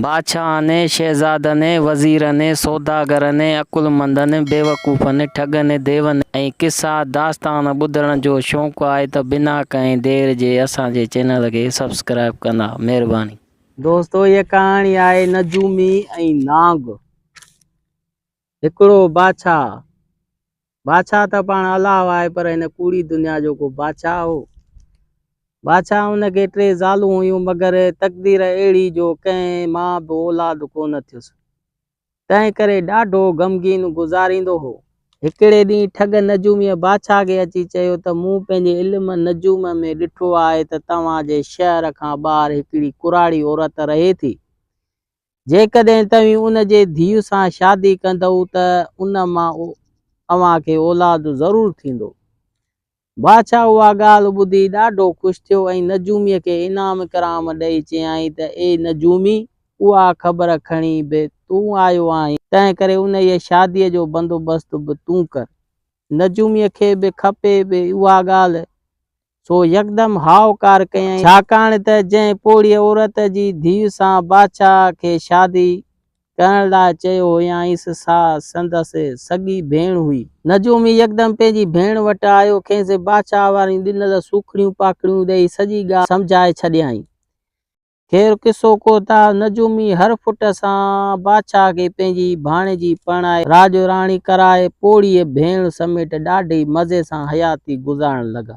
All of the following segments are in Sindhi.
بادشاهن ۽ شهزادن ۽ وزيرن ۽ سوداگرن ۽ عقلمندن ۽ بيوقوفن، ٺڳن ۽ ديون ۽ قصا داستان ٻڌڻ جو شوق آهي ته بنا ڪنهن دير جي اسان جي چينل کي سبسڪرائيب ڪندا. مهرباني. دوستو هيء ڪهاڻي آهي نجومي ۽ نانگ. هڪڙو بادشاهه، بادشاهه ته پاڻ الله آهي پر هن ڪوڙي دنيا جو ڪو بادشاهه هو. بادشاهه ان کي ٽي زالون هيون مگر تقدير اهڙي جو ڪنهن مان به اولاد ڪونه ٿيس. تنهن ڪري ڏاڍو غمگين گذاريندو هو. هڪڙي ڏينهن ٺڳ نجوميء بادشاهه کي اچي چيو ته مون پنهنجي علم نجوم ۾ ڏٺو آهي ته توهان جي شهر کان ٻاهر هڪڙي ڪراڙي عورت رهي ٿي. جيڪڏهن توهين ان جي ڌيء سان شادي ڪندؤ ته ان مان اوهان کي اولاد ضرور ٿيندو. بادشاهه اها ڳالهه ٻڌي ڏاڍو خوش ٿيو ۽ نجوميء کي انعام اڪرام ڏئي چيائين ته اي نجومي اها خبر کڻي به تون آيو آهين، تنهنڪري انهيء شاديء جو بندوبست به تون ڪر. نجوميء کي به کپي پئي اها ڳالهه سو يڪدم هائوڪار ڪيائين، ڇاڪاڻ ته جنهن پوڙهيء عورت جي ڌيء سان بادشاهه کي شادي ڪرڻ لاء چيو هيائينس، سا سندس سڳي ڀيڻ هئي. نجومي يڪدم پنهنجي ڀيڻ وٽ آيو، کيس بادشاهه واريون ڏنل سوکڙيون پاکڙيون ڏيئي سڄي ڳالهه سمجهائي ڇڏيائين. خير قصو ڪوتا نجومي هر فٽ سان بادشاهه کي پنهنجي ڀاڻيجي پرڻائي راڄ راڻي ڪرائي پوڙهيء ڀيڻ سميٽ ڏاڍي مزي سان حياتي گذارڻ لڳا.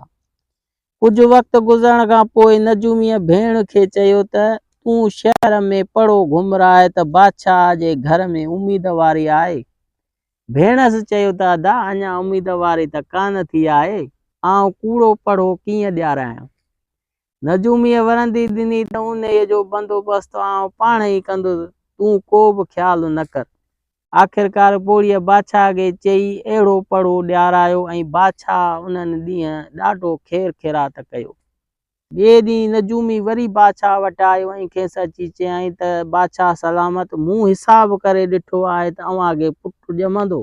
ڪجهه وقت گذرڻ کان پوء نجوميء ڀيڻ کي چيو ته تون شهر ۾ پڙو گهمراء ته بادشاهه جي گهر ۾ اميدواري آهي. ڀيڻس چيو ته ادا اڃا اميدواري ته ڪانه ٿي آهي، آئون ڪوڙو پڙهو ڪيئن ڏيارايان. نجوميء ورندي ڏني ته انهيء جو بندوبست آئون پاڻ ئي ڪندس، تون ڪو به خيال نه ڪر. آخرڪار پوڙهيء بادشاهه کي چئي اهڙو پڙهو ڏيارايو ۽ بادشاهه انهن ڏينهن ڏاڍو خير خيرات ڪيو. ٻئي ڏينهن نجومي وري بادشاهه وٽ آيو ۽ کيس اچي چيائين ته بادشاهه سلامت، مون حساب ڪري ڏٺو آهي ته اوهان کي پٽ ڄمندو.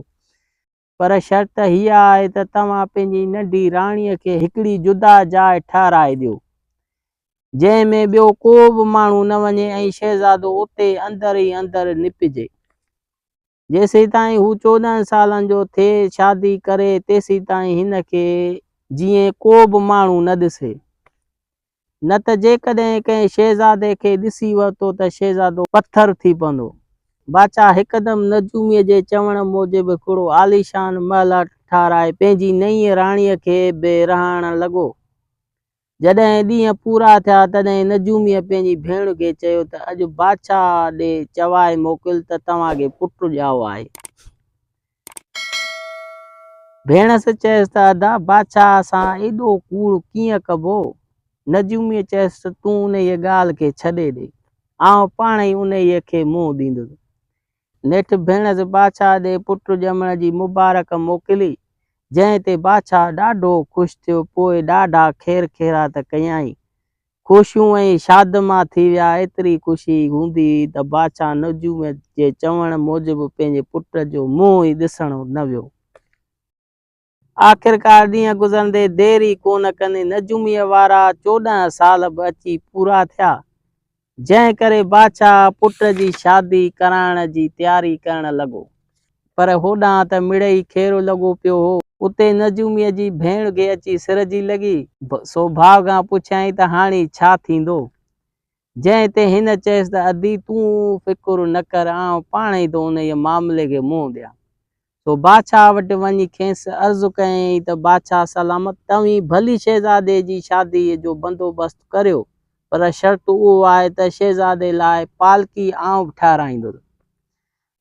پر شرط هيء آهي ته توهان پنهنجي ننڍي راڻيء کي هڪڙي جدا جاء ٺهرائي ڏيو، جنهن ۾ ٻيو ڪو به ماڻهو نه وڃي ۽ شهزادو اتي اندر ئي اندر نپجي. جيسيتائين هو چوڏهن سالن جو ٿئي شادي ڪري، تيسيتائين هن کي جيئن ڪو به ماڻهو نه ڏسي. نه ته جيڪڏهن ڪنهن شهزادي کي ڏسي ورتو ته شهزادو پٿر ٿي پوندو. باچا هڪدم نجوميء جي چوڻ موجب هڪڙو عاليشان محل ٺهرائي پنهنجي نئينء راڻيء کي به رهائڻ لڳو. جڏهن ڏينهن پورا ٿيا تڏهن نجوميء پنهنجي ڀيڻ کي چيو ته اڄ باچا ڏي چوائي موڪل ته توهان کي پٽ ڄائو آهي. ڀيڻس چيس ته ادا بادشاهه سان ايڏو ڪوڙ ڪيئن ڪبو؟ نجوميء چيس ته تون انهيء ڳالهه کي ڇڏي ڏي، آئون پاڻ ئي انهيء کي منهن ڏيندس. نيٺ ڀيڻس بادشاهه ڏي پٽ ڄمڻ جي مبارڪ موڪلي، جنهن تي بادشاهه ڏاڍو خوش ٿيو، پوء ڏاڍا خير خيرات ڪيائين. خوشيون ۽ شادما ٿي ويا. ايتري خوشي هوندي هئي ته بادشاهه نجوم جي چوڻ موجب پنهنجي پٽ جو منهن ئي ڏسڻ نه ويو. آخرڪار ڏينهن گذرندي دير ئي ڪونه ڪندي نجوميء وارا چوڏهن سال به اچي پورا ٿيا، جنهن ڪري بادشاهه پٽ جي شادي ڪرائڻ جي تياري ڪرڻ لڳو. پر هوڏانهن ته مڙئي کيرو لڳو پيو هو. اتي نجوميء جي ڀيڻ گهي اچي سر جي لڳي. سو ڀاء کان پڇيائين ته هاڻي ڇا ٿيندو؟ جنهن تي هن چيس ته ادي تون فڪر نه ڪر، آئون پاڻ ئي ٿو انهيء معاملي کي منهن ڏيان. سو بادشاهه وٽ وڃي کيس عرض ڪيائين ته بادشاهه سلامت، توهين ڀلي شهزادي جي شاديء جو بندوبست ڪريو، پر شرط اهو آهي ته شهزادي لاء پالڪي آئون به ٺهرائيندس.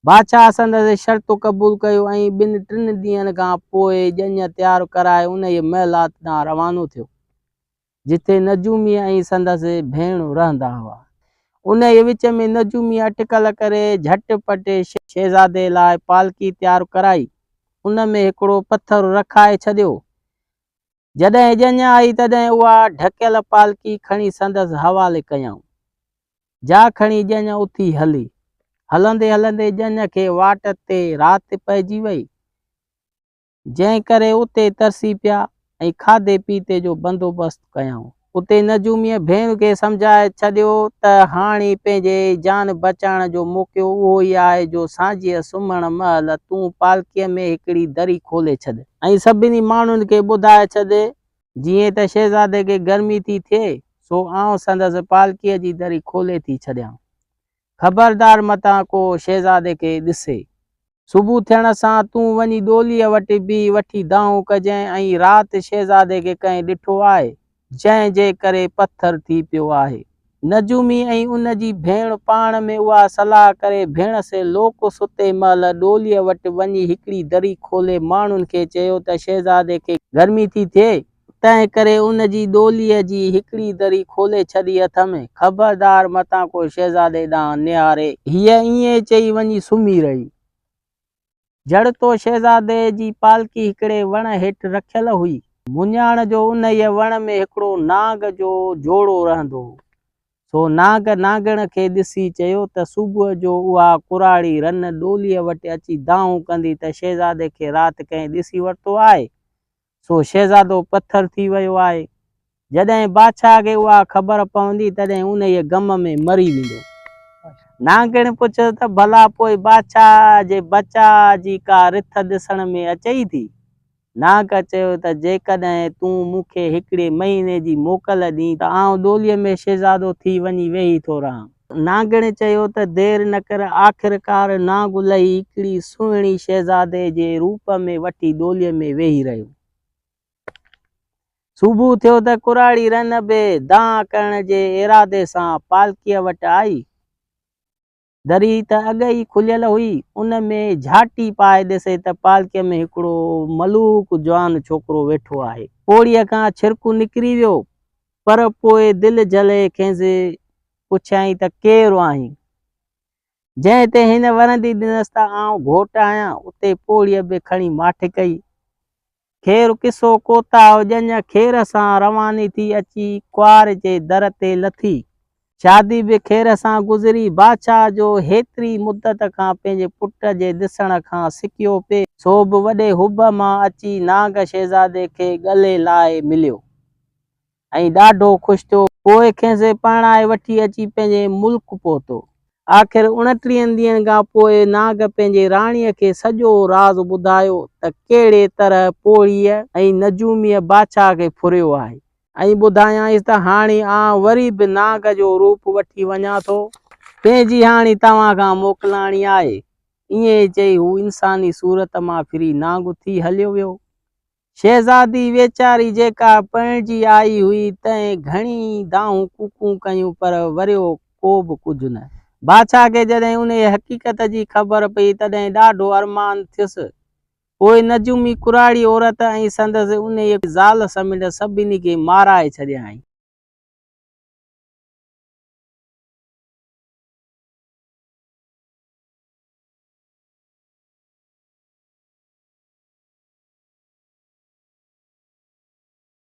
بادشاهه سندس شرط قبول ڪيو ۽ ٻن ٽن ڏينهن کان پوء ڄڃ تيار ڪرائي انهيء محلات ڏانهن روانو ٿيو، جتي نجومي ۽ سندس ڀيڻ رهندا هئا. انهيء وچ ۾ نجومي اٽڪل ڪري جهٽ پٽ شهزادي لاء پالڪي تيار ڪرائي، ان ۾ هڪڙو پٿر رکائي ڇڏيو، جڏهن ڄڃ آئي تڏهن اها ڍڪيل پالڪي کڻي سندس حوالي ڪيائون. جا کڻي ڄڃ اٿي هلي. هلندي هلندي ڄڃ کي واٽ تي رات پئجي وئي، جنهن ڪري اتي ترسي پيا ۽ کاڌي پيتي جو بندوبست ڪيائون. اتي نجوميء ڀيڻ کي سمجهائي ڇڏيو ته هاڻي پنهنجي جان بچائڻ جو موقعو اهو ئي آهي جو سانجهيء سمهڻ مهل تون پالڪيء ۾ هڪڙي دري کولي ڇڏ، ۽ سڀني ماڻهن کي ٻڌائي ڇڏ، جيئن ته شهزادي کي گرمي ٿي ٿئي، سو آئون سندس پالڪيء جي دري کولي ٿي ڇڏيان. خبردار متان ڪو شهزادي کي ڏسي. صبح ٿيڻ سان تون وڃي ڏوليء وٽ بيهه وٺي دانهون ڪجين ۽ رات شهزادي کي ڪنهن ڏٺو آهي، جنهن جي ڪري پٿر ٿي پيو آهي. نجومي ۽ ان جي ڀيڻ پاڻ ۾ اها صلاح ڪري ڀيڻ سي لوڪ ستي مهل ڏوليء وٽ وڃي هڪڙي دري کولي ماڻهن کي چيو ته شهزادي کي گرمي ٿي ٿئي تنهن ڪري ان جي ڏوليء جي هڪڙي دري کولي ڇڏي اٿم. خبردار متان ڪو شهزادي ڏانهن نهاري. هيء ائين چئي وڃي سمهي رهي. جڙتو شهزادي جي پالڪي هڪڙي وڻ هيٺ رکيل هئي. مڃاڻ جو انهيء وڻ ۾ هڪڙو نانگ جو جوڙو رهندو هو. سو نانگ نانگڻ کي ڏسي چيو ته صبح جو اها ڪراڙي رن ڏوليء وٽ اچي دانهون ڪندي ته شهزادي کي رات ڪنهن ڏسي ورتو آهي. سو شهزادو پٿر ٿي ويو آهي. جڏهن بادشاهه کي اها خبر پوندي تڏهن انهيء غم ۾ مري ويندو. نانگڻ پڇيو ته ڀلا پوء بادشاهه جي بچاء جي ڪا رٿ ڏسڻ ۾ اچئي ٿي؟ نانگ چيو ته جيڪڏهن تون مون کي هڪڙي مهيني جي موڪل ڏئين ته آئون ڏوليء ۾ شهزادو ٿي وڃي ويهي ٿو رهان. نانگڻي چيو ته دير نه ڪر، آخرڪار نانگ الهي هڪڙي سهڻي شهزادي جي روپ ۾ وٺي ڏولي ۾ ويهي رهيو. صبح ٿيو ته ڪراڙي رن به دانهن ڪرڻ جي ارادي سان پالڪيء وٽ آئي. دري ته اڳ ئي کليل هئي، ان ۾ جهاٽي پائي ڏسي ته پالڪيء ۾ هڪڙو ملوڪ جوان ڇوڪرو ويٺو آهي. پوڙهيء کان ڇرڪو نڪري ويو، پر پوء دل جلي کيس پڇيائين ته ڪير آهين؟ جنهن تي هن ورندي ڏنس ته آئون گهوٽ آهيان، اتي پوڙهيء به کڻي ماٺ ڪئي. خير قصو ڪوتاهه ڄڃ خير سان رواني ٿي اچي ڪوار جي در تي لٿي. شادي به خير سان گذري. بادشاهه جو هيتري مدت کان پنهنجي پٽ جي ڏسڻ کان سڪيو پئي، سو به وڏي حب مان اچي نانگ شهزادي کي ڳلي لائي مليو ۽ ڏاڍو خوش ٿيو. پوء کيس پرڻائي وٺي اچي پنهنجي ملڪ پهتو. آخر اڻٽيهن ڏينهن کان پوء نانگ پنهنجي راڻيء کي سڄو راز ٻڌايو ته ڪهڙي طرح پوڙهيء ۽ نجوميء بادشاهه کي ڦريو آهي ۽ ٻڌايائينس ته هاڻي آئون وري به نانگ جو روپ وٺي وڃان ٿو، تنهن جي هاڻي توهان کان موڪلاڻي آهي. ائين چئي هو انساني صورت مان ڦري نانگ ٿي هليو ويو. شهزادي ويچاري جيڪا پرڻجي آئي هئي، تنهن گهڻي ئي دانهون ڪوڪون ڪيون پر وريو ڪو به ڪجهه نه. بادشاهه کي جڏهن انهيء حقيقت جي خبر پئي، تڏهن ڏاڍو ارمان ٿيس. پوء نجومي ڪراڙي عورت ۽ سندس انهيء زال سميت سڀني کي مارائي ڇڏيائين.